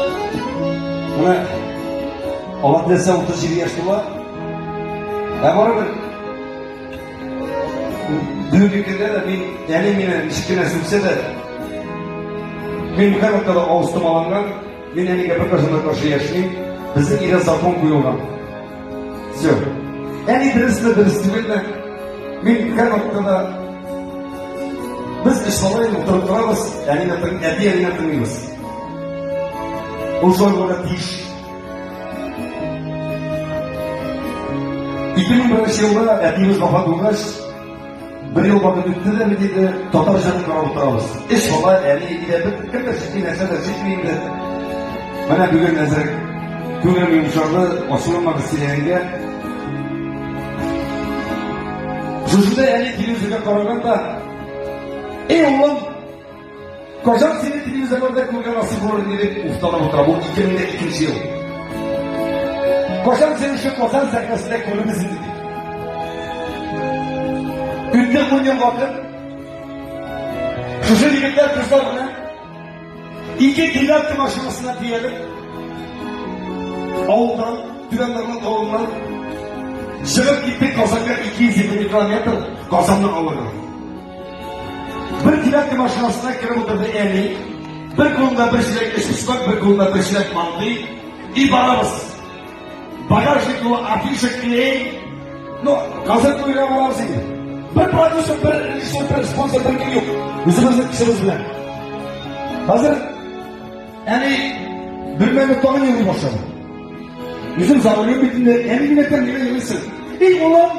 Менә алар нәрсә 37 яшь була. Ә барыбер бүгенге көндә дә мин әле мине кечкенә сүксә дә мин һәрвакытта да авыз томаланган, мин әлегә бер кашына каршы яшьмим. Безнең өйдә закон куелган. Все. Әни дөресме, дөрес түгелме? Мин һәр вакытта да без эш салай утырып торабыз, әнине тыңлап, әти әнине тыңлыйбыз. Ул шулай булырга тиеш. 2001 елда әтиебез вафат булгач, Бер ел вакыт үтте дә бит инде, татар җырын каралтабыз. Эш бала, әни әйтә, кем дә сине нәрсә дә җитми инде. Менә бүген әзер күңелем йомшарды, ачуланмагыз сөйләгәнгә. Шушында әни килү җиргә караганда, эй, улым, Кожан сине телевизорларда күргән асыл булыр дип уфтанып утыра. Бу 2002 ел. Кожан сине шул Казан сәхнәсендә күребез инде. Үтте күргән вакыт. Шушы егетләр кызлар белән ике девятка машинасына диялек авылдан, түбән Норман авылыннан чыгып киттек Казанга 220 километр Казанны алырга. Бер теләк машинасына кереп утырды әни. Бер кулында бер чиләк эчписмак, бер кулында бер чиләк мантый. И барабыз. Багажник ну афиша клей. Ну, газет куйга барабыз инде. Бер продюсер, бер режиссер, бер спонсор, бер кем юк. Үзебезнең кешебез белән. Хәзер әни бер мәле тагын елый башлады. Үзем завалю бит инде, әни генә тәмле елыйсың. И улым,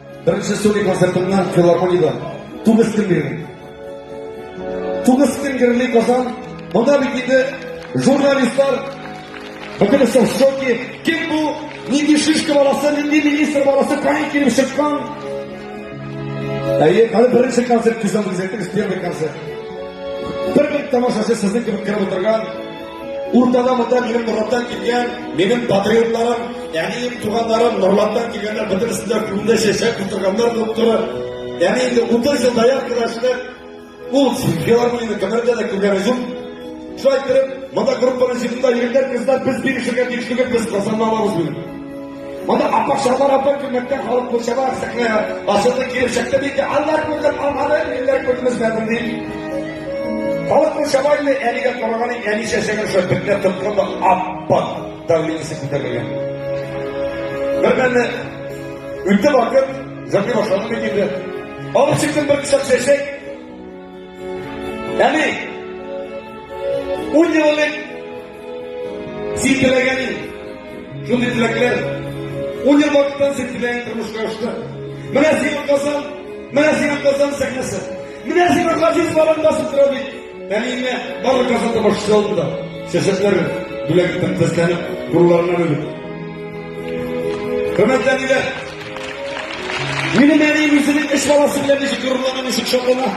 Беренче студия концертымны филармониядә тугыз көн бирдем. Тугыз көн герли Казан. Монда бит инде журналистлар бөтен соң шоки. Кем бу? Нинди шишка баласы, нинди министр баласы, кайын килеп чыккан? Әйе, хәзер беренче концерт күзәтеп күзәтегез, первый концерт. Бер бер тамашачы сезнең кебек кереп утырган Уртада монда минем Нурлаттан килгән, минем патриотларым, әнием, туганнарым Нурлаттан килгәннәр, бөтенесе дә күңелдә чәчәк утырганнар булып тора. Яни инде 30 ел даяр кылашлар, ул филармонияне кемнәрдә дә күргәне юк. Шулай итеп, монда группаның җитендә егетләр, кызлар, без бирешергә тиеш түгел, без Казаннан алабыз бүген. Моны апак шалар апа күмәктән халык күршәбә сәхнә асылды килеп чыкты диде. Аллар күргән алманы илләр күрмәсмәдем ди. Халык күршәбә инде әлегә караган әни чәчәген шул бетне тоткан да апак давлениесе күтәрелгән. Бермәлне үтте вакыт, җырны башладым бит инде. Алып чыктым бер кочак чәчәк, Әни! Ун ел элек син теләгән идең. Шундый теләкләр. Ун ел вакыттан син теләгән тормышка ашты. Менә сиңа Казан, менә сиңа Казан сәхнәсе. Менә сиңа Газиз балаң басып тора бит. Әниемә барлык Казан тамашасы алдында. Сәсәтләр бүләк итеп, сәсләнеп, буруларына бөлеп. Хөрмәтле әниләр! Минем әнием үзенең өч баласы белән ничек горурлана, ничек шатлана.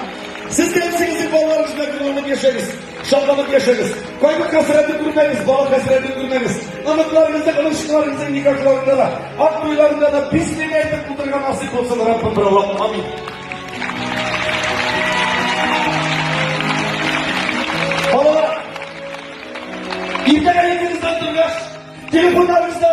Сез дә үзегезнең балаларыгыз белән горурланып яшәгез, шатланып яшәгез. Кайгы хәсрәтен күрмәгез, бала хәсрәтен күрмәгез. Оныкларыгызда, оныкчыкларыгызның никахларында да, ат туйларында да бисмилла әйтеп утырырга насыйп булсын Раббым бер Аллаһ. Амин. Балалар, иртәгә егетегездән торгач, телефоннарыгызда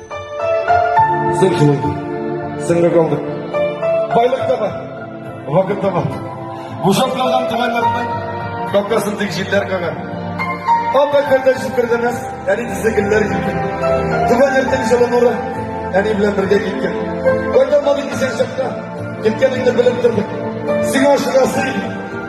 Син җылый, сеңлек алдык. Байлык та бар, вакыт та бар. Бушап калган түбәнләрнең капкасын тик җилләр кагар. Ап әкбәрдә җиткердемез, әни тизе гөлләр килде. Түбән иртең җылы нуры, әни белән бергә киткән. Кайталмадык исән чакта, киткәнеңне белеп тордык. Сиңа ашыгасы иде.